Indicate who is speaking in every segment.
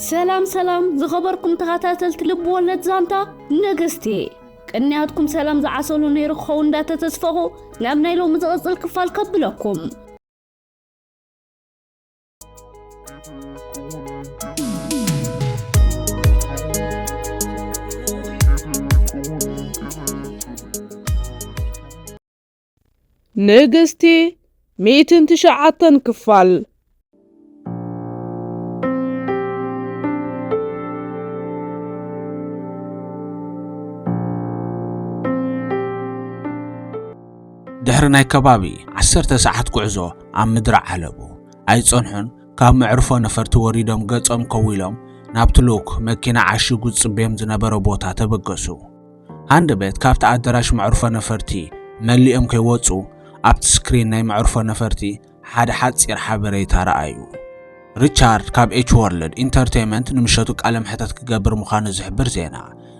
Speaker 1: ሰላም ሰላም ዝኸበርኩም ተኸታተልቲ ልቢ ወለድ ዛንታ ነገስቲ ቅንያትኩም ሰላም ዝዓሰሉ ነይሩ ክኸውን እንዳተተስፈኹ ናብ ናይ ሎሚ ዝቕፅል ክፋል ከብለኩም
Speaker 2: ንግስቲ ሚእትን ትሽዓተን ክፋል።
Speaker 3: ድሕሪ ናይ ከባቢ ዓሰርተ ሰዓት ጉዕዞ ኣብ ምድረ ዓለቡ ኣይጸንሑን ካብ መዕርፎ ነፈርቲ ወሪዶም ገጾም ከዊሎም ናብቲ ልኡክ መኪና ዓሺጉ ዝጽበዮም ዝነበረ ቦታ ተበገሱ። ሃንድ ቤት ካብቲ ኣደራሽ መዕርፎ ነፈርቲ መሊኦም ከይወጹ ኣብቲ ስክሪን ናይ መዕርፎ ነፈርቲ ሓደ ሓጺር ሓበሬታ ረኣዩ። ሪቻርድ ካብ ኤች ወርልድ ኢንተርቴይመንት ንምሸቱ ቃለ መሕተት ክገብር ምዃኑ ዝሕብር ዜና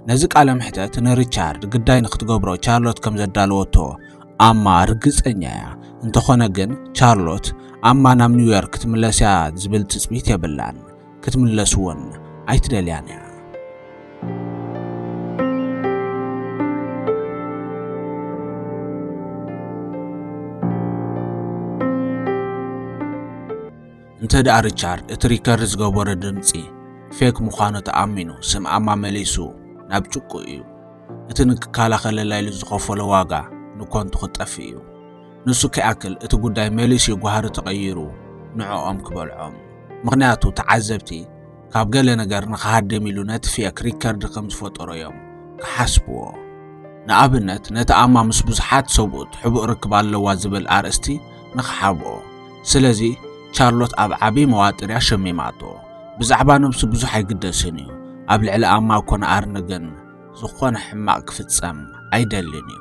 Speaker 3: ነዚ ቃለ መሕተት ንሪቻርድ ግዳይ ንክትገብሮ ቻርሎት ከም ዘዳለወቶ ኣማ ርግጸኛ እያ። እንተኾነ ግን ቻርሎት ኣማ ናብ ኒውዮርክ ክትምለስ እያ ዝብል ትጽቢት የብላን። ክትምለስዎን ኣይትደልያን እያ። እንተ ደኣ ሪቻርድ እቲ ሪከርድ ዝገበሮ ድምፂ ፌክ ምዃኑ ተኣሚኑ ስም ኣማ መሊሱ ናብ ጭቁ እዩ። እቲ ንክከላኸለላ ኢሉ ዝኸፈሎ ዋጋ ንኮንቱ ክጠፍእ እዩ። ንሱ ከይኣክል እቲ ጉዳይ መሊሱ ጓህሪ ተቐይሩ ንዕኦም ክበልዖም ምኽንያቱ ተዓዘብቲ ካብ ገለ ነገር ንኽሃድም ኢሉ ነቲ ፌክ ሪከርድ ከም ዝፈጠሮ እዮም ክሓስብዎ ንኣብነት ነቲ ኣማ ምስ ብዙሓት ሰብኡት ሕቡእ ርክብ ኣለዋ ዝብል ኣርእስቲ ንኽሓብኦ ስለዚ ቻርሎት ኣብ ዓብዪ መዋጥር እያ ሸሚማቶ ብዛዕባ ነብሱ ብዙሕ ኣይግደስን እዩ ኣብ ልዕሊ ኣማ ኮነ ኣርነ ግን ዝኾነ ሕማቕ ክፍጸም ኣይደልን እዩ።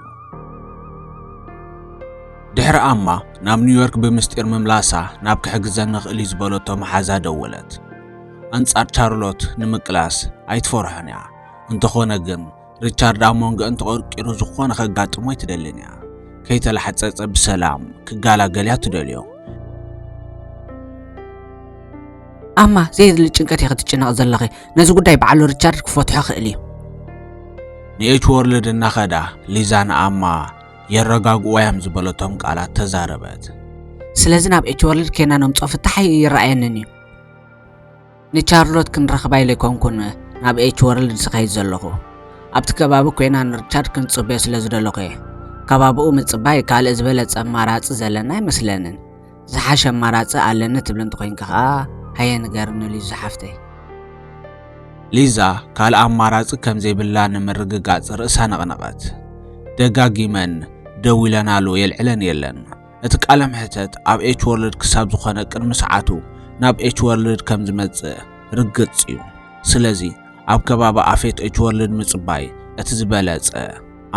Speaker 3: ድሕሪ ኣማ ናብ ኒውዮርክ ብምስጢር ምምላሳ ናብ ክሕግዘኒ ኽእል እዩ ዝበለቶ መሓዛ ደወለት። ኣንጻር ቻርሎት ንምቅላስ ኣይትፈርሖን እያ። እንተኾነ ግን ሪቻርድ ኣብ መንጎአን ተቐርቂሩ ዝኾነ ከጋጥሞ ኣይትደልን እያ። ከይተላሕጸጸ ብሰላም ክጋላገል እያ ትደልዮ። ኣማ
Speaker 4: ዘየድሊ ጭንቀት ኢኺ ትጭነቂ ዘለኺ ነዚ ጉዳይ በዓሉ ሪቻርድ ክፈትሖ ክእል እዩ።
Speaker 3: ንኤች ወርልድ እናኸዳ ሊዛ ንኣማ የረጋግኡዋያም ዝበለቶም ቃላት ተዛረበት። ስለዚ ናብ
Speaker 4: ኤች ወርልድ ኬና ነምጾ ፍታሕ ይረኣየንን እዩ። ንቻርሎት ክንረኽባ ኢለ ኣይኮንኩን ናብ ኤች ወርልድ ዝኸይድ ዘለኹ። ኣብቲ ከባቢ ኮይና ንሪቻርድ ክንጽበዮ ስለ ዝደለኹ እየ። ከባቢኡ ምጽባይ ካልእ ዝበለጸ ኣማራጺ ዘለና ኣይመስለንን። ዝሓሸ ኣማራጺ ኣለኒ ትብል እንተኾይንኪ ከኣ ሃየ ንገርኒ ሊዛ ሓፍተይ።
Speaker 3: ሊዛ ካልእ ኣማራጺ ከም ዘይብላ ንምርግጋጽ ርእሳ ነቕነቐት። ደጋጊመን ደዊለናሉ የልዕለን የለን። እቲ ቃለ መሕተት ኣብ ኤች ወርልድ ክሳብ ዝኾነ ቅድሚ ሰዓቱ ናብ ኤች ወርልድ ከም ዝመጽእ ርግጽ እዩ። ስለዚ ኣብ ከባቢ ኣፌት ኤች ወርልድ ምጽባይ እቲ ዝበለጸ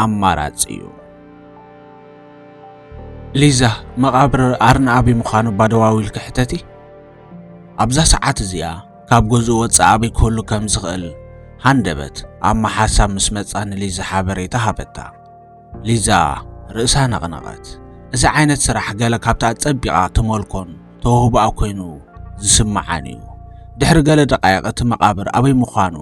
Speaker 3: ኣማራጺ እዩ። ሊዛ፣ መቓብር ኣርንኣቢ ምዃኑ እባ ደው ኣቢልኪ ሕተቲ። ኣብዛ ሰዓት እዚኣ ካብ ገዝኡ ወጻኢ ኣበይ ክህሉ ከም ዝኽእል ሃንደበት ኣማ ሓሳብ ምስ መጻ ንሊዛ ሓበሬታ ሃበታ። ሊዛ ርእሳ ነቕነቐት። እዚ ዓይነት ስራሕ ገለ ካብቲ ኣጸቢቓ ትመልኮን ተውህቦኣ ኮይኑ ዝስምዓን እዩ። ድሕሪ ገለ ደቓይቕ እቲ መቓብር ኣበይ ምዃኑ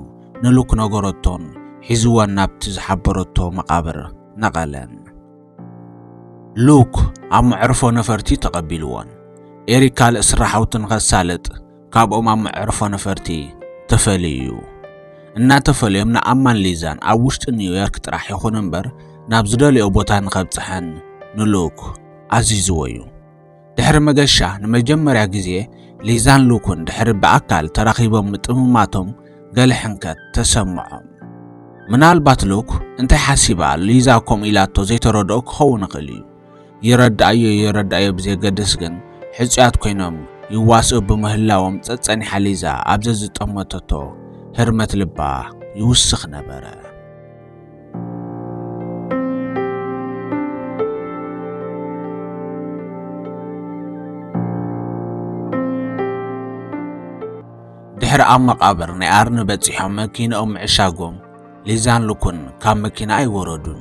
Speaker 3: ንሉክ ነገረቶን ሒዝወን ናብቲ ዝሓበረቶ መቓብር ነቐለን። ሉክ ኣብ መዕርፎ ነፈርቲ ተቐቢልዎን ኤሪክ ካልእ ስራሓውቲ ንኸሳልጥ ካብኦም ኣብ መዕርፎ ነፈርቲ ተፈልዩ እዩ እናተፈልዮም ንኣማን ሊዛን ኣብ ውሽጢ ኒውዮርክ ጥራሕ ይኹን እምበር ናብ ዝደልዮ ቦታ ንኸብፅሐን ንሉክ ኣዚዝዎ እዩ ድሕሪ መገሻ ንመጀመርያ ግዜ ሊዛን ሉኩን ድሕሪ ብኣካል ተራኺቦም ምጥምማቶም ገለ ሕንከት ተሰምዖም። ምናልባት ሉክ እንታይ ሓሲባ ሊዛ ከምኡ ኢላቶ ዘይተረድኦ ክኸውን ይኽእል እዩ። ይረድኣዮ ይረድኣዮ ብዘየገድስ ግን ሕጹያት ኮይኖም ይዋስኡ ብምህላዎም ጸጸኒሓ ሊዛ ኣብ ዘዝጠመተቶ ህርመት ልባ ይውስኽ ነበረ። ድሕሪ ኣብ መቓብር ናይ ኣርኒ በጺሖም መኪናኦም ምዕሻጎም ሊዛን ልኩን ካብ መኪና ኣይወረዱን።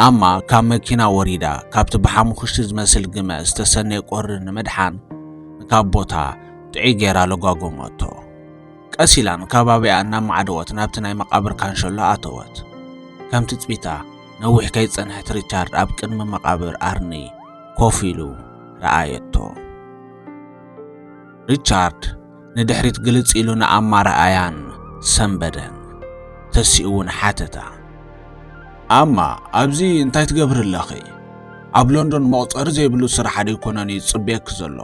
Speaker 3: ኣማ ካብ መኪና ወሪዳ ካብቲ ብሓሙኽሽቲ ዝመስል ግመ ዝተሰነየ ቆሪ ንምድሓን ካብ ቦታ ጥዑይ ገይራ ለጓጎመቶ። ቀስ ኢላ ንከባቢኣ እናማዕደወት ናብቲ ናይ መቓብር ካንሸሎ ኣተወት። ከም ትጽቢታ ነዊሕ ከይጸንሐት ሪቻርድ ኣብ ቅድሚ መቓብር ኣርኒ ኮፍ ኢሉ ረኣየቶ። ሪቻርድ ንድሕሪት ግልጽ ኢሉ ንኣማ ረኣያን ሰንበደን። ተሲኡ እውን ሓተታ። ኣማ ኣብዚ እንታይ ትገብሪ ኣለኺ? ኣብ ሎንዶን መቑጸሪ ዘይብሉ ስራሕ ዶ ኣይኮነን እዩ ዝጽበየኪ ዘሎ?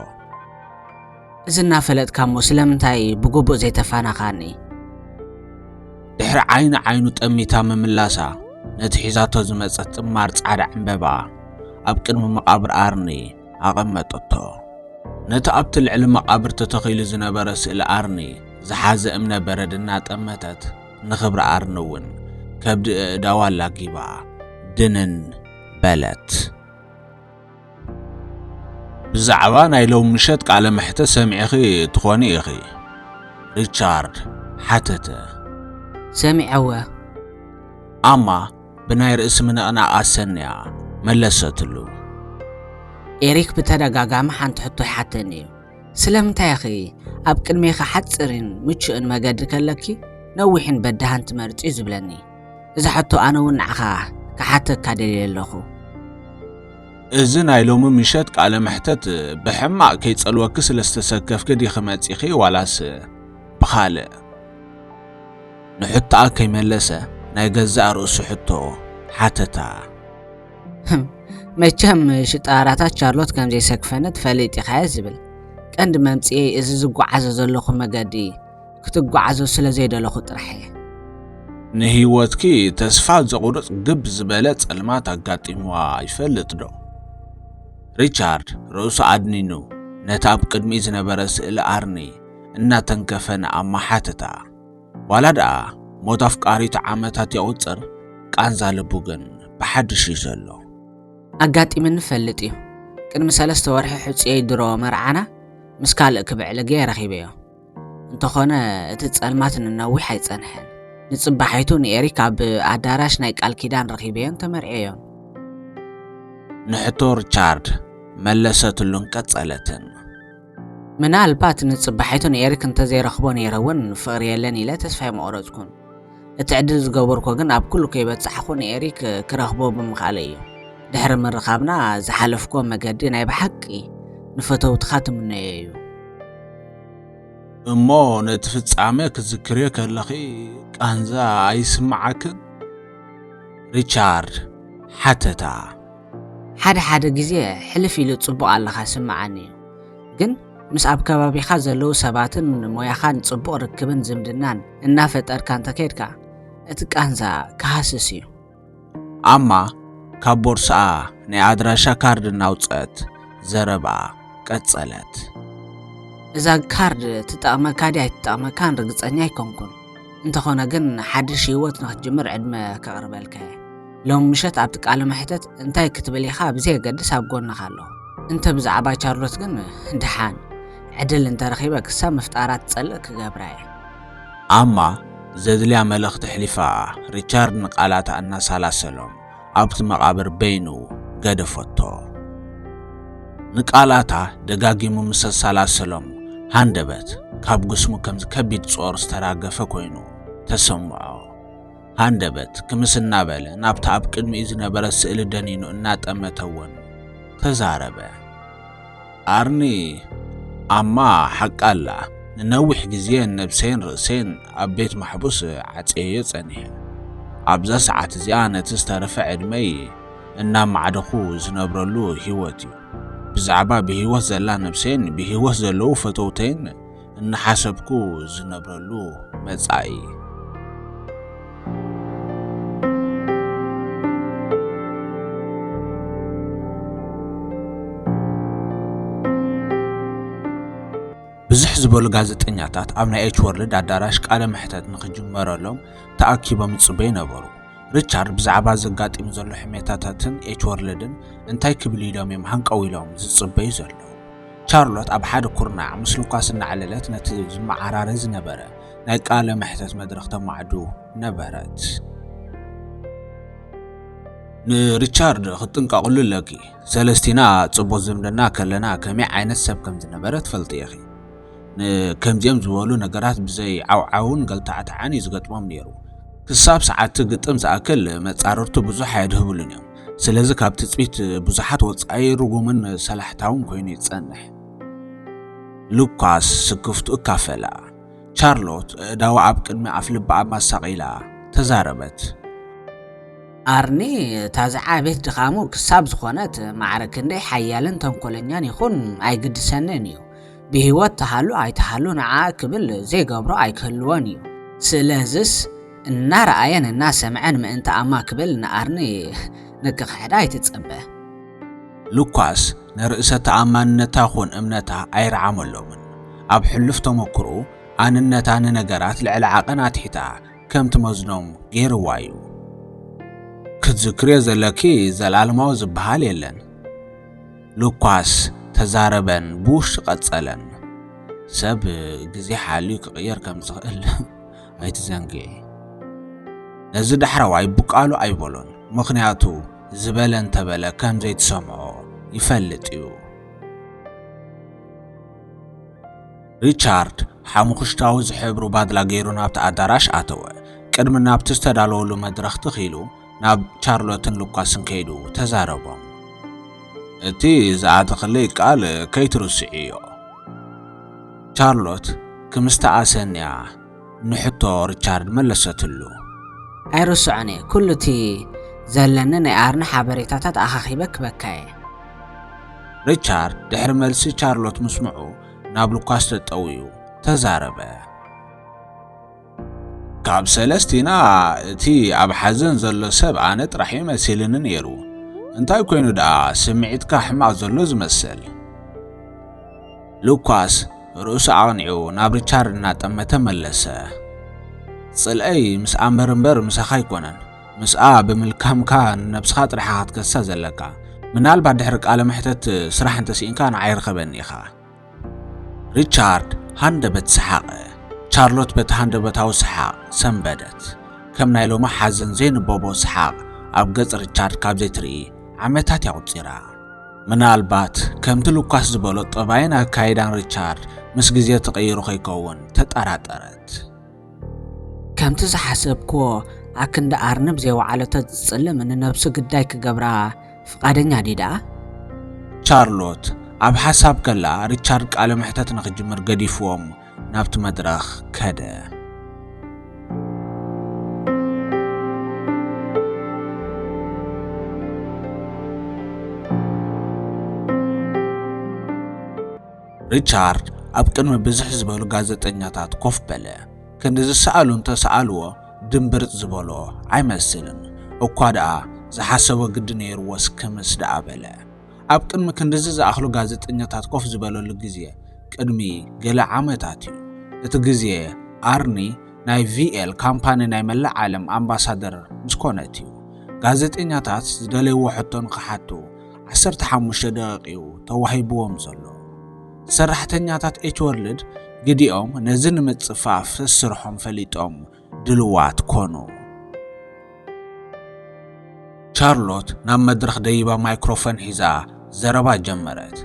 Speaker 4: እዚ እናፈለጥካ እሞ ስለምንታይ ብግቡእ ዘይተፋነኻኒ?
Speaker 3: ድሕሪ ዓይኒ ዓይኑ ጠሚታ ምምላሳ ነቲ ሒዛቶ ዝመጸት ጥማር ጻዕዳ ዕምበባ ኣብ ቅድሚ መቓብር ኣርኒ ኣቐመጠቶ። ነቲ ኣብቲ ልዕሊ መቓብር ተተኺሉ ዝነበረ ስእሊ ኣርኒ ዝሓዘ እምነ በረድ እናጠመተት ንኽብሪ ኣርኒ እውን ከብዲ እእዳዋ ኣላጊባ ድንን በለት። ብዛዕባ ናይ ሎም ምሸት ቃለ መሕተት ሰሚዕኺ ትኾኒ ኢኺ? ሪቻርድ ሓተተ።
Speaker 4: ሰሚዐወ።
Speaker 3: ኣማ ብናይ ርእሲ ምንቕናቕ ኣሰንያ መለሰትሉ።
Speaker 4: ኤሪክ ብተደጋጋሚ ሓንቲ ሕቶ ይሓተኒ እዩ። ስለምንታይ ኢኺ ኣብ ቅድሜኺ ሓጺርን ምቹእን መገዲ ከለኪ ነዊሕን በዳህን ትመርጺ እዩ ዝብለኒ። እዚ ሕቶ ኣነ እውን ንዓኻ ክሓተካ ደልየ ኣለኹ።
Speaker 3: እዚ ናይ ሎሚ ምሸት ቃለ መሕተት ብሕማቕ ከይጸልወኪ ስለ ዝተሰከፍኪ ዲኺ መጺኺ ዋላስ ብኻልእ? ንሕቶኣ ከይመለሰ ናይ ገዛእ ርእሱ ሕቶ ሓተታ።
Speaker 4: መቸም ሽጣራታት ቻርሎት ከም ዘይሰክፈኒ ትፈልጥ ኢኻ'የ ዝብል። ቀንዲ መምጽኤይ እዚ ዝጓዓዞ ዘለኹ መገዲ ክትጓዓዙ ስለ ዘይደለኹ ጥራሕ እየ።
Speaker 3: ንህይወትኪ ተስፋ ዘቑርጽ ግብ ዝበለ ጸልማት ኣጋጢምዋ ይፈልጥዶ? ሪቻርድ ርእሱ ኣድኒኑ ነቲ ኣብ ቅድሚኡ ዝነበረ ስእሊ ኣርኒ እናተንከፈ ንኣማ ሓተታ። ዋላ ደኣ ሞት ኣፍቃሪቱ ዓመታት የቑጽር፣ ቃንዛ ልቡ ግን ብሓድሽ እዩ ዘሎ። ኣጋጢምኒ
Speaker 4: እፈልጥ እዩ። ቅድሚ ሰለስተ ወርሒ ሕጹየይ ድሮ መርዓና ምስ ካልእ ክብዕልጌ ረኺበዮ። እንተኾነ እቲ ጸልማት ንነዊሕ ኣይጸንሐን ንጽባሒቱ ንኤሪክ ኣብ ኣዳራሽ ናይ ቃል ኪዳን ረኺበዮን ተመርዔዮን
Speaker 3: ንሕቶ ሪቻርድ መለሰትሉን ቀጸለትን
Speaker 4: ምናልባት ንጽባሒቱ ንኤሪክ እንተዘይረኽቦ ነይረ እውን ፍቕሪ የለን ኢለ ተስፋ ኣይምቑረጽኩን እቲ ዕድል ዝገበርኮ ግን ኣብ ኩሉ ከይበጻሕኹ ንኤሪክ ክረኽቦ ብምኽኣለይ እዩ። ድሕሪ ምርኻብና ዝሓለፍኩዎ መገዲ ናይ ብሓቂ ንፈተውትኻ ትምነዮ እዩ።
Speaker 3: እሞ ነቲ ፍጻመ ክትዝክርዮ ከለኺ ቃንዛ ኣይስምዓክን? ሪቻርድ ሓተታ።
Speaker 4: ሓደ ሓደ ግዜ ሕልፍ ኢሉ ጽቡቕ ኣለኻ ዝስምዓኒ እዩ። ግን ምስ ኣብ ከባቢኻ ዘለዉ ሰባትን ሞያኻን ጽቡቕ ርክብን ዝምድናን እናፈጠርካ እንተከድካ እቲ ቃንዛ ክሃስስ እዩ። ኣማ
Speaker 3: ካብ ቦርስኣ ናይ ኣድራሻ ካርድ እናውጽአት ዘረብኣ ቀጸለት።
Speaker 4: እዛ ካርድ ትጠቕመካ ድያ ኣይትጠቕመካን ርግጸኛ ኣይኮንኩን፣ እንተኾነ ግን ሓድሽ ህይወት ንክትጅምር ዕድመ ከቕርበልካ እየ። ሎም ምሸት ኣብቲ ቃለ መሕተት እንታይ ክትብል ኢኻ ብዘየገድስ ኣብ ጎንኻ ኣለኹ። እንተ ብዛዕባ ቻርሎት ግን ደሓን ዕድል እንተ ረኺበ ክሳብ ምፍጣራ ትጸልእ ክገብራ እየ። ኣማ
Speaker 3: ዘድልያ መልእኽቲ ኣሕሊፋ ሪቻርድ ንቃላታ እናሳላሰሎም ኣብቲ መቓብር በይኑ ገደፈቶ። ንቃላታ ደጋጊሙ ምስ ኣሳላሰሎም ሃንደበት ካብ ግስሙ ከምዚ ከቢድ ጾር ዝተራገፈ ኮይኑ ተሰምዖ። ሃንደበት ክምስ እናበለ ናብታ ኣብ ቅድሚኡ ዝነበረት ስእሊ ደኒኑ እናጠመተወን ተዛረበ። ኣርኒ ኣማ ሓቃ ኣላ ንነዊሕ ግዜ ነብሰይን ርእሰይን ኣብ ቤት ማሕቡስ ዓጽየዮ ጸኒሐ። ኣብዛ ሰዓት እዚኣ ነቲ ዝተረፈ ዕድመይ እናማዕደኹ ዝነብረሉ ህይወት እዩ። ብዛዕባ ብህይወት ዘላ ነብሰይን ብህይወት ዘለዉ ፈተውተይን እናሓሰብኩ ዝነብረሉ መጻኢ ብዝሕ ዝበሉ ጋዜጠኛታት ኣብ ናይ ኤች ወርልድ ኣዳራሽ ቃለ መሕተት ንክጅመረሎም ተኣኪቦም ይጽበዩ ነበሩ። ሪቻርድ ብዛዕባ ዘጋጢሙ ዘሎ ሕሜታታትን ኤች ወርልድን እንታይ ክብል ኢሎም እዮም ሃንቀው ኢሎም ዝጽበዩ ዘለዉ። ቻርሎት ኣብ ሓደ ኩርናዕ ምስ ሉካስ እናዕለለት ነቲ ዝመዓራረ ዝነበረ ናይ ቃለ መሕተት መድረኽ ተማዕዱ ነበረት። ንሪቻርድ ክትጥንቀቕሉ ኣለኪ። ሰለስቲና ጽቡቕ ዝምድና ከለና ከመይ ዓይነት ሰብ ከም ዝነበረ ትፈልጢ ኢኺ። ንከምዚኦም ዝበሉ ነገራት ብዘይ ዓውዓውን ገልታዕታዕን እዩ ዝገጥሞም ነይሩ። ክሳብ ሰዓብቲ ግጥም ዝኣክል መጻርርቱ ብዙሕ ኣየድህብሉን እዮም። ስለዚ ካብ ትጽቢት ብዙሓት ወጻኢ ርጉምን ሰላሕታውን ኮይኑ ይጸንሕ። ሉካስ ስክፍቱ እካፈላ። ቻርሎት እእዳዋ ኣብ ቅድሚ ኣፍ ልባ ኣብ ማሳቂላ ተዛረበት።
Speaker 4: ኣርኒ እታ ዝዓበየት ድኻሙ ክሳብ ዝኾነት ማዕረ ክንደይ ሓያልን ተንኮለኛን ይኹን ኣይግድሰንን እዩ። ብህይወት ትሃሉ ኣይትሃሉ ንዓኣ ክብል ዘይገብሮ ኣይክህልዎን እዩ። ስለዝስ እናረኣየን እናሰምዐን ምእንቲ ኣማ ክብል ንኣርኒ ንክኽሕዳ ኣይትጸበ።
Speaker 3: ሉካስ ንርእሰ ተኣማንነታ ኹን እምነታ ኣይረዓመሎምን። ኣብ ሕሉፍ ተመኩርኡ ኣንነታ ንነገራት ልዕሊ ዓቐን ኣትሒታ ከም ትመዝኖም ገይርዋ እዩ። ክትዝክርዮ ዘለኪ ዘልኣለማዊ ዝበሃል የለን። ሉካስ ተዛረበን ብውሽጢ ቀጸለን። ሰብ ግዜ ሓልዩ ክቕየር ከም ዝኽእል ኣይትዘንግዒ። ነዚ ዳሕረዋይ ብቃሉ ኣይበሎን፣ ምኽንያቱ ዝበለ እንተበለ ከም ዘይትሰምዖ ይፈልጥ እዩ። ሪቻርድ ሓሙኽሽታዊ ዝሕብሩ ባድላ ገይሩ ናብቲ ኣዳራሽ ኣተወ። ቅድሚ ናብቲ ዝተዳለወሉ መድረኽ ትኽ ኢሉ ናብ ቻርሎትን ሉካስን ከይዱ ተዛረቦም። እቲ ዝኣተኽለይ ቃል ከይትርስዕዮ። ቻርሎት ክምስቲ ኣሰንያ ንሕቶ ሪቻርድ መለሰትሉ።
Speaker 4: ኣይርስዖን እየ፣ ኩሉ እቲ ዘለኒ ናይ ኣርኒ ሓበሬታታት ኣኻኺበ ክበካ እየ።
Speaker 3: ሪቻርድ ድሕሪ መልሲ ቻርሎት ምስምዑ ናብ ሉካስ ተጠውዩ ተዛረበ። ካብ ሰለስቲና እቲ ኣብ ሓዘን ዘሎ ሰብ ኣነ ጥራሕ'ዩ መሲልኒ ነይሩ። እንታይ ኮይኑ ደኣ ስምዒትካ ሕማቕ ዘሎ ዝመስል? ሉካስ ርእሱ ኣቕኒዑ ናብ ሪቻርድ እናጠመተ መለሰ። ጽልኣይ ምስ ኣምበር እምበር ምሳኻ ኣይኮነን። ምስኣ ብምልካምካ ንነብስኻ ጥራሕኻ ክትከሳ ዘለካ። ምናልባት ድሕሪ ቃለ መሕተት ስራሕ እንተስኢንካ ንዓይ ርኸበኒ ኢኻ። ሪቻርድ ሃንደበት ሰሓቐ። ቻርሎት በቲ ሃንደበታዊ ሰሓቕ ሰንበደት። ከም ናይ ሎሚ ሓዘን ዘይንበቦ ሰሓቕ ኣብ ገጽ ሪቻርድ ካብ ዘይትርኢ ዓመታት እያ ቁጺራ። ምናልባት ከምቲ ሉካስ ዝበሎ ጠባይን ኣካይዳን ሪቻርድ ምስ ግዜ ተቐይሩ ከይከውን ተጠራጠረት።
Speaker 4: ከምቲ ዝሓሰብክዎ ኣክንዲ ኣርንብ ዘይወዓሎ ተዝጽልም ንነብሱ ግዳይ ክገብራ ፍቓደኛ ድዩ ደኣ?
Speaker 3: ቻርሎት ኣብ ሓሳብ ከላ ሪቻርድ ቃለ መሕተት ንኽጅምር ገዲፍዎም ናብቲ መድረኽ ከደ። ሪቻርድ ኣብ ቅድሚ ብዝሕ ዝበሉ ጋዜጠኛታት ኮፍ በለ። ክንዲ ዝሰኣሉ እንተሰኣልዎ ድምብርጽ ዝበሎ ኣይመስልን። እኳ ደኣ ዝሓሰቦ ግዲ ነይርዎስ ክምስ ደኣ በለ። ኣብ ቅድሚ ክንድዚ ዝኣኽሉ ጋዜጠኛታት ኮፍ ዝበለሉ ግዜ ቅድሚ ገለ ዓመታት እዩ። እቲ ግዜ ኣርኒ ናይ ቪኤል ካምፓኒ ናይ መላእ ዓለም ኣምባሳደር ምስ ኮነት እዩ። ጋዜጠኛታት ዝደለይዎ ሕቶ ንኽሓቱ 15 ደቂቕ እዩ ተዋሂብዎም ዘሎ። ሰራሕተኛታት ኤችወርልድ ግዲኦም ነዚ ንምጽፋፍ ስስርሖም ፈሊጦም ድልዋት ኮኑ። ቻርሎት ናብ መድረኽ ደይባ ማይክሮፎን ሒዛ ዘረባ ጀመረት።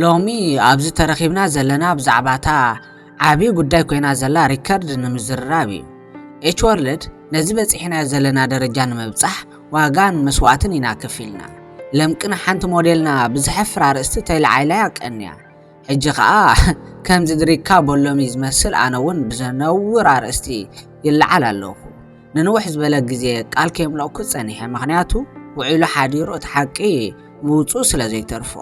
Speaker 3: ሎሚ
Speaker 4: ኣብዚ ተረኺብና ዘለና ብዛዕባ እታ ዓብዪ ጉዳይ ኮይና ዘላ ሪከርድ ንምዝርራብ እዩ። ኤች ወርልድ ነዚ በጺሕናዮ ዘለና ደረጃ ንምብጻሕ ዋጋን መስዋእትን ኢና ከፊልና። ለምቅና ሓንቲ ሞዴልና ብዘሕፍር ኣርእስቲ ተይልዓይላያ ቀንያ። ሕጂ ከኣ ከምዚ ድሪካ በሎሚ ዝመስል ኣነ እውን ብዘነውር ኣርእስቲ ይለዓል ኣለኹ። ንንውሕ ዝበለ ግዜ ቃል ከየምለእኩ ጸኒሐ ምክንያቱ ውዒሉ ሓዲሩ እቲ ሓቂ ምውጽኡ ስለ ዘይተርፎ።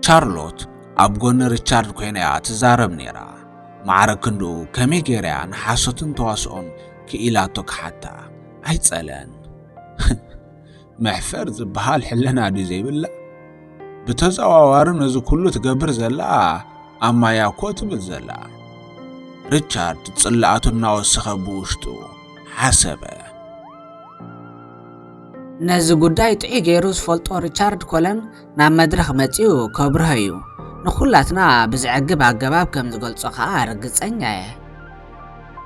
Speaker 3: ቻርሎት ኣብ ጎኒ ሪቻርድ ኮይና እያ ትዛረብ ነይራ። ማዕረ ክንድኡ ከመይ ገይራ እያ ንሓሶትን ተዋስኦን ክኢላቶ ክሓታ ኣይጸለን። መሕፈር ዝበሃል ሕልና ድዩ ዘይብላ? ብተዘዋዋሪ ነዚ ኩሉ ትገብር ዘላ ኣብ ማያ እኮ ትብል ዘላ። ሪቻርድ ጽላኣቱ እናወሰኸ ብውሽጡ ሓሰበ።
Speaker 4: ነዚ ጉዳይ ጥዑይ ገይሩ ዝፈልጦ ሪቻርድ ኮለን ናብ መድረኽ መጺኡ ከብርሆ እዩ። ንዅላትና ብዘዕግብ ኣገባብ ከም ዝገልጾ ከኣ ርግጸኛ እየ።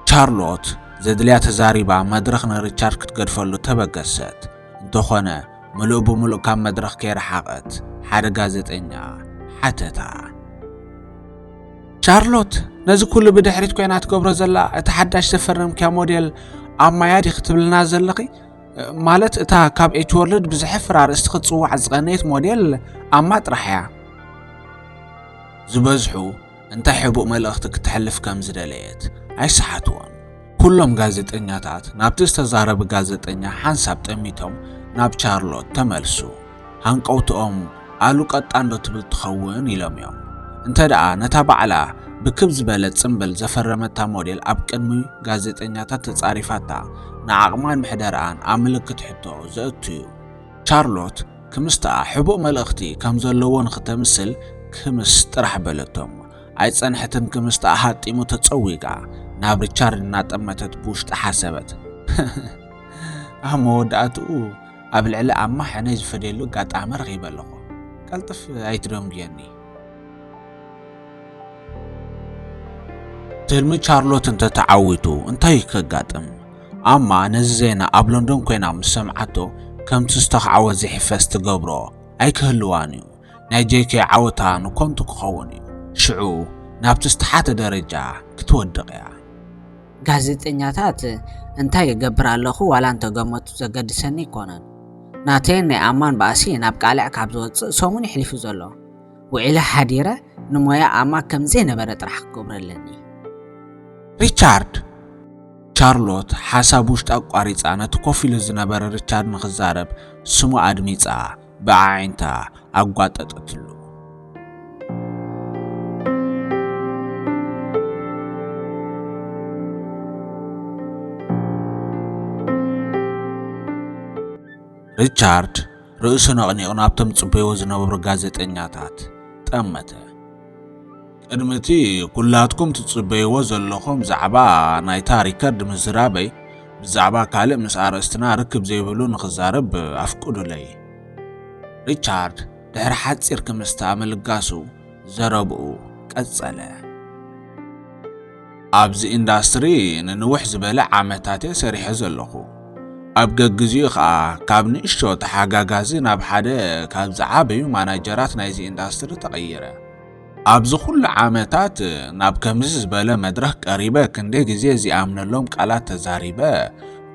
Speaker 3: ቻርሎት ዘድልያ ተዛሪባ መድረኽ ንሪቻርድ ክትገድፈሉ ተበገሰት። እንተዀነ ምሉእ ብምሉእ ካብ መድረኽ ከይረሓቐት ሓደ ጋዜጠኛ ሓተታ። ቻርሎት ነዚ ኩሉ ብድሕሪት ኮይና ትገብሮ ዘላ እቲ ሓዳሽ ዘፈረምክያ ሞዴል ኣብ ማያ ዲኺ ትብልና ዘለኺ ማለት እታ ካብ ኤች ወርልድ ብዝሕፍር ኣርእስቲ ክትፅዋዕ ዝቐነየት ሞዴል ኣማ ጥራሕ እያ ዝበዝሑ እንታይ ሕቡእ መልእኽቲ ክትሕልፍ ከም ዝደለየት ኣይሰሓትዎን ኩሎም ጋዜጠኛታት ናብቲ ዝተዛረበ ጋዜጠኛ ሓንሳብ ጠሚቶም ናብ ቻርሎት ተመልሱ። ሃንቀውትኦም ኣሉ ቀጣንዶ ትብል ትኸውን ኢሎም እዮም። እንተ ደኣ ነታ ባዕላ ብክብ ዝበለ ጽምብል ዘፈረመታ ሞዴል ኣብ ቅድሚ ጋዜጠኛታት ተጻሪፋታ ንዓቕማን ምሕደርኣን ኣብ ምልክት ሕቶ ዘእቱ እዩ። ቻርሎት ክምስትኣ ሕቡእ መልእኽቲ ከም ዘለዎ ንኽተምስል ክምስ ጥራሕ በለቶም። ኣይጸንሐትን ክምስጣ ኣሃጢሙ ተጸዊጋ ናብ ሪቻርድ እናጠመተት ብውሽጢ ሓሰበት ኣብ መወዳእትኡ ኣብ ልዕሊ ኣማ ሕነይ ዝፈደየሉ ኣጋጣሚ ረኺበ ኣለኹ ቀልጥፍ ኣይትደንጉየኒ ትልሚ ቻርሎት እንተተዓዊቱ እንታይ ከጋጥም ኣማ ነዚ ዜና ኣብ ሎንዶን ኮይና ምስ ሰምዓቶ ከምቲ ዝተኽዓወት ዘይሕፈስ ትገብሮ ኣይክህልዋን እዩ ናይ ጄኬ ዓወታ ንኮንቱ ክኸውን እዩ ሽዑ ናብቲ ዝተሓተ ደረጃ ክትወድቕ እያ።
Speaker 4: ጋዜጠኛታት እንታይ ይገብር ኣለኹ ዋላ እንተገመቱ ዘገድሰኒ ኣይኮነን። ናተይን ናይ ኣማን ባእሲ ናብ ቃልዕ ካብ ዝወጽእ ሰሙን እዩ ሕሊፉ ዘሎ። ውዒለ ሓዲረ ንሞያ ኣማ ከም ዘይነበረ ጥራሕ ክገብሮ ኣለኒ።
Speaker 3: ሪቻርድ! ቻርሎት ሓሳብ ውሽጣ ኣቋሪጻ ነቲ ኮፍ ኢሉ ዝነበረ ሪቻርድ ንኽዛረብ ስሙ ኣድሚጻ። ብኣዒንታ ኣጓጠጠትሉ። ሪቻርድ ርእሱ ነቕኒቑ ናብቶም ጽበይዎ ዝነበሩ ጋዜጠኛታት ጠመተ። ቅድሚ እቲ ኩላትኩም ትጽበይዎ ዘለኹም ዛዕባ ናይታ ሪከርድ ምዝራበይ ብዛዕባ ካልእ ምስ ኣርእስትና ርክብ ዘይብሉ ንኽዛረብ ኣፍቅዱለይ። ሪቻርድ ድሕሪ ሓጺር ክምስታ ምልጋሱ ዘረብኡ ቀጸለ። ኣብዚ ኢንዳስትሪ ንንውሕ ዝበለ ዓመታት እየ ሰሪሐ ዘለኹ። ኣብ ገግዚኡ ኸኣ ካብ ንእሽቶ ተሓጋጋዚ ናብ ሓደ ካብ ዝዓበዩ ማናጀራት ናይዚ ኢንዳስትሪ ተቐይረ። ኣብዚ ኩሉ ዓመታት ናብ ከምዚ ዝበለ መድረኽ ቀሪበ ክንደይ ግዜ ዚኣምነሎም ቃላት ተዛሪበ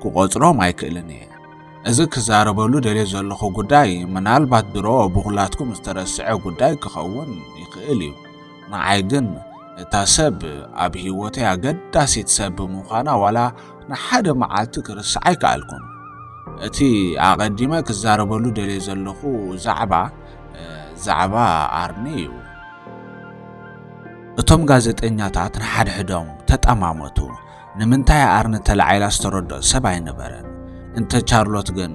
Speaker 3: ክቖጽሮም ኣይክእልን እየ። እዚ ክዛረበሉ ደልየ ዘለኹ ጉዳይ ምናልባት ድሮ ብኹላትኩም ዝተረስዐ ጉዳይ ክኸውን ይኽእል እዩ። ንዓይ ግን እታ ሰብ ኣብ ህይወተይ ኣገዳሲት ሰብ ብምዃና ዋላ ንሓደ መዓልቲ ክርስዓ ኣይከኣልኩን። እቲ ኣቐዲመ ክዛረበሉ ደልየ ዘለኹ ዛዕባ ዛዕባ ኣርኒ እዩ። እቶም ጋዜጠኛታት ንሓድሕዶም ተጠማመቱ። ንምንታይ ኣርኒ ተላዒላ ዝተረድኦ ሰብ ኣይነበረን። እንተ ቻርሎት ግን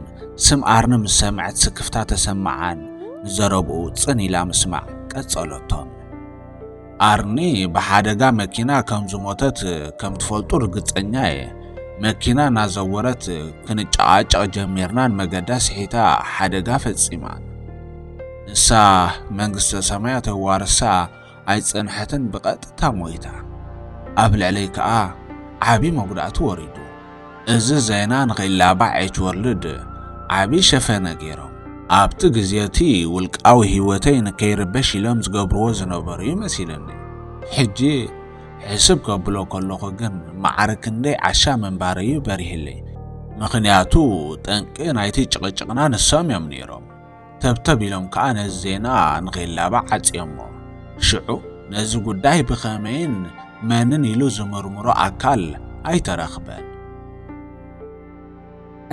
Speaker 3: ስም ኣርኒ ምስ ሰምዐት ስክፍታ ተሰምዓን ንዘረብኡ ጽን ኢላ ምስማዕ ቀጸለቶ። ኣርኒ ብሓደጋ መኪና ከም ዝሞተት ከም ትፈልጡ ርግጸኛ እየ። መኪና እናዘወረት ክንጨቓጨቕ ጀሚርናን መገዳ ስሒታ ሓደጋ ፈጺማ። ንሳ መንግስተ ሰማያ ተዋርሳ ኣይጸንሐትን ብቐጥታ ሞይታ። ኣብ ልዕለይ ከኣ ዓቢ መጉዳእቲ ወሪዱ። እዚ ዜና ንኺላባዕ ኤች ወርልድ ዓቢ ሸፈነ ገይሮም። ኣብቲ ግዜ እቲ ውልቃዊ ህይወተይ ንከይርበሽ ኢሎም ዝገብርዎ ዝነበሩ እዩ መሲሉኒ። ሕጂ ሕስብ ከብሎ ከለኹ ግን ማዕረ ክንደይ ዓሻ ምንባረይ እዩ በሪህለይ። ምኽንያቱ ጠንቂ ናይቲ ጭቕጭቕና ንሶም እዮም ነይሮም። ተብተብ ኢሎም ከኣ ነዚ ዜና ንኺላባዕ ዓጽዮሞ። ሽዑ ነዚ ጉዳይ ብኸመይን መንን ኢሉ ዝምርምሮ ኣካል ኣይተረኽበን።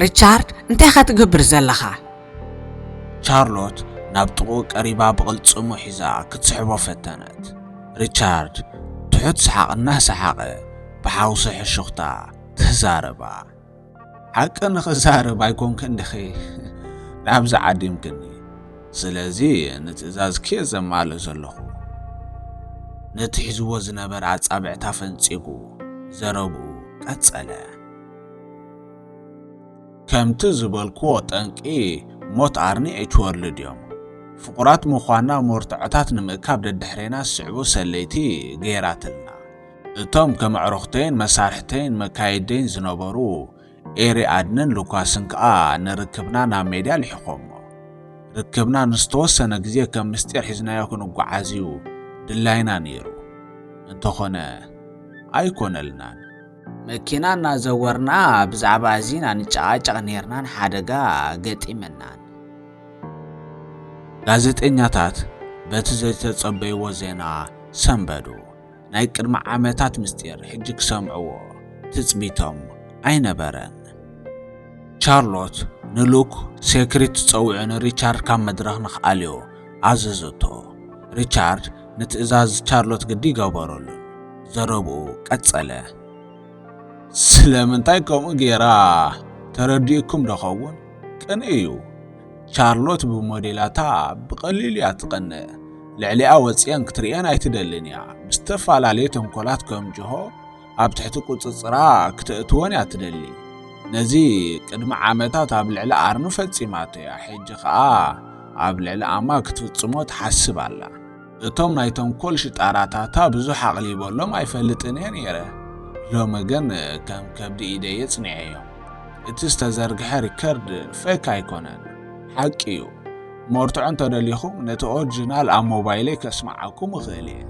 Speaker 4: ሪቻርድ፣ እንታይ'ኻ ትገብር ዘለኻ?
Speaker 3: ቻርሎት ናብ ጥቕኡ ቀሪባ ብቕልጽሙ ሒዛ ክትስሕቦ ፈተነት። ሪቻርድ ትሑት ሰሓቕ እናሰሓቐ ብሓውሲ ሕሹኽታ ተዛረባ። ሓቂ ንኽዛረብ ኣይኮንክን ድኺ ናብዚ ዓዲምክኒ ስለዚ ንትእዛዝ ኬ ዘማልእ ዘለኹ ነቲ ሒዝዎ ዝነበረ ኣጻብዕታ ፈንጺጉ ዘረብኡ ቀጸለ ከምቲ ዝበልክዎ ጠንቂ ሞት ኣርኒ ኤችወርልድ እዮም ፍቑራት ምዃና መርትዖታት ንምእካብ ደድሕሬና ዝስዕቡ ሰለይቲ ገይራትልና እቶም ከም ኣዕሩኽተይን መሳርሕተይን መካይድተይን ዝነበሩ ኤሪ ኣድንን ሉካስን ከኣ ንርክብና ናብ ሜድያ ልሒኾሞ። ርክብና ንዝተወሰነ ግዜ ከም ምስጢር ሒዝናዮ ክንጓዓዝ እዩ ድላይና ነይሩ። እንተኾነ ኣይኮነልናን።
Speaker 4: መኪና እናዘወርና ብዛዕባ እዚ ኢና ንጨቓጨቕ ነይርናን ሓደጋ ገጢመናን።
Speaker 3: ጋዜጠኛታት በቲ ዘይተጸበይዎ ዜና ሰንበዱ። ናይ ቅድሚ ዓመታት ምስጢር ሕጂ ክሰምዕዎ ትጽቢቶም ኣይነበረን። ቻርሎት ንሉክ ሴክሪት ትጸውዑ ንሪቻርድ ካብ መድረኽ ንኽኣልዮ ኣዘዘቶ። ሪቻርድ ንትእዛዝ ቻርሎት ግዲ ገበረሉን ዘረብኡ ቀጸለ። ስለምንታይ ከምኡ ገይራ ተረዲኡኩም ዶ ኸውን? ቅንኢ እዩ። ቻርሎት ብሞዴላታ ብቐሊሉ እያ ትቐንእ። ልዕሊኣ ወጽየን ክትርእየን ኣይትደልን እያ። ብዝተፈላለየ ተንኮላት ከም ጅሆ ኣብ ትሕቲ ቁጽጽራ ክተእትወን እያ ትደሊ። ነዚ ቅድሚ ዓመታት ኣብ ልዕሊ ኣርኑ ፈጺማቶ እያ። ሕጂ ከኣ ኣብ ልዕሊ ኣማ ክትፍጽሞ ትሓስብ ኣላ። እቶም ናይ ተንኮል ሽጣራታታ ብዙሕ ኣቕሊበሎም ኣይፈልጥን እየ ነይረ። ሎሚ ግን ከም ከብዲ ኢደይ የጽኒዐዮም። እቲ ዝተዘርግሐ ሪከርድ ፌክ ኣይኮነን፣ ሓቂ እዩ። መርትዖ እንተደሊኹም ነቲ ኦርጂናል ኣብ ሞባይለይ ከስምዓኩም እኽእል እየ።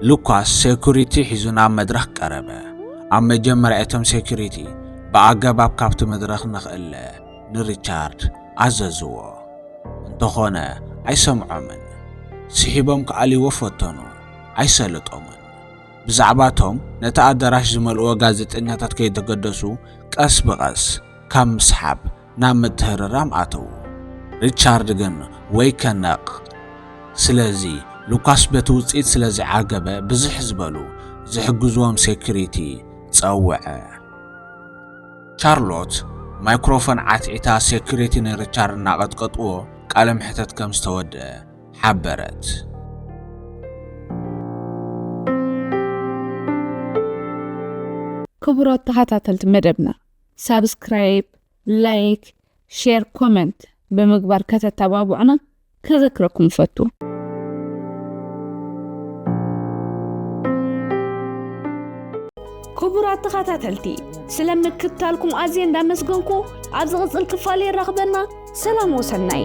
Speaker 3: ሉካስ ሴኩሪቲ ሒዙ ናብ መድረኽ ቀረበ። ኣብ መጀመርያ እቶም ሴኩሪቲ ብኣገባብ ካብቲ መድረኽ ንኽእለ ንሪቻርድ ኣዘዝዎ። እንተኾነ ኣይሰምዖምን። ስሒቦም ክኣልይዎ ፈተኑ። ኣይሰለጦምን። ብዛዕባ እቶም ነቲ ኣደራሽ ዝመልእዎ ጋዜጠኛታት ከይተገደሱ ቀስ ብቐስ ካብ ምስሓብ ናብ ምትህርራም ኣተዉ። ሪቻርድ ግን ወይ ከነቕ። ስለዚ ሉካስ በቲ ውጽኢት ስለ ዘይዓገበ ብዝሕ ዝበሉ ዝሕግዝዎም ሴኩሪቲ ጸውዐ። ቻርሎት ማይክሮፎን ዓትዒታ ሴኩሪቲ ንሪቻርድ እናቐጥቀጥዎ ቃለ መሕተት ከም ዝተወድኣ ሓበረት።
Speaker 2: ክቡራት ተኸታተልቲ መደብና ሳብስክራይብ፣ ላይክ፣ ሼር ኮመንት ብምግባር ከተተባብዑና ከዘክረኩም እፈቱ።
Speaker 1: ክቡራት ተኸታተልቲ ስለ ምክትታልኩም ኣዝየ እንዳመስገንኩ ኣብ ዝቕፅል ክፋል የራኽበና ሰላም ወሰናይ